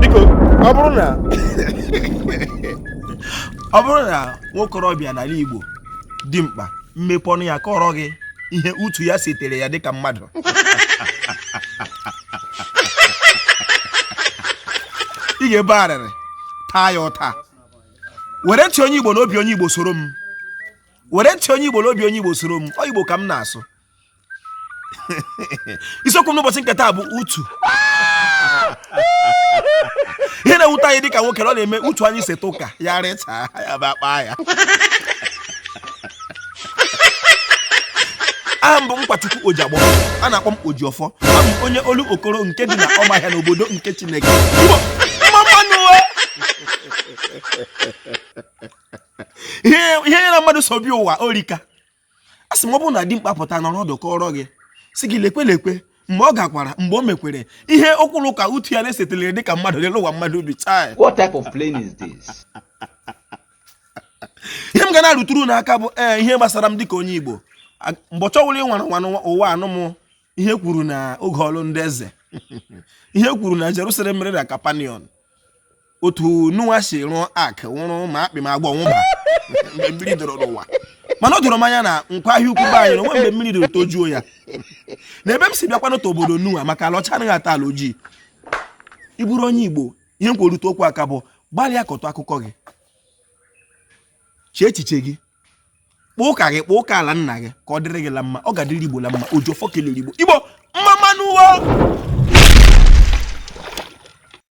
biko ọ bụrụ na nwokorobịa n'ala Igbo dimkpa mepee ọnụ ya kọrọ gị ihe utu ya setere ya dịka mmadụ ị ga-ebe arịrị taa ya ụta were ntị onye Igbo na obi onye Igbo soro m ọ Igbo ka m na-asụ isiokwu n'ụbọchị nke taa bụ utu ihe na-ewute anyị dịka nwoke na ọ na-eme utu anyị seta ụka ya rịchaba akpa ya aha m bụ Nkwachukwu Ojiagbọ a na-akpọ m Ojiọfọ abụ m onye Olokoro nke dị na Ụmụahịa n'obodo nke Chineke Igbo, mma mma nụ o! ihe ya na mmadụ so bi ụwa o rika a sị m ọ bụrụ na dimkpa pụta nọrọ ọdụ kọrọ gị si gị lekwe lekwe mgbe ọ gakwara mgbe o mekwere ihe okwu la ụka utu ya na-esetelere dịka mmadụ lele ụwa mmadụ ubi taa What type of plane is this? ihe m ga na-arụtụrụ unu aka bụ ee ihe gbasara m dịka onye Igbo mbọchị ọ wụla ịnwara nwana ụwa anụ m ihe e kwuru na oge ọlụ ndị eze ihe e kwuru na Jerusalem mere na Capernaum otu Noah si rụọ ark nwụrụ ma akpị ma agwọ nwụba mgbe mmiri doro n'ụwa mana o doro m anya na Nkwọ Ahịa Ukwu be anyị na o nwe mgbe mmiri doro tojuo ya na ebe m si bịakwa n'otu obodo Noah maka ala ọcha anaghị ata ala ojii ị bụrụ onye igbo ihe m kwerute okwu aka bụ gbalịa kọtụ akụkọ gị chee echiche gị kpọọ ụka gị kpọọ ụka ala nna gị ka ọ dịrị gị la mma ọ ga-adịrị igbo la mma Ojiọfọ kelere igbo igbo mma mma nụ o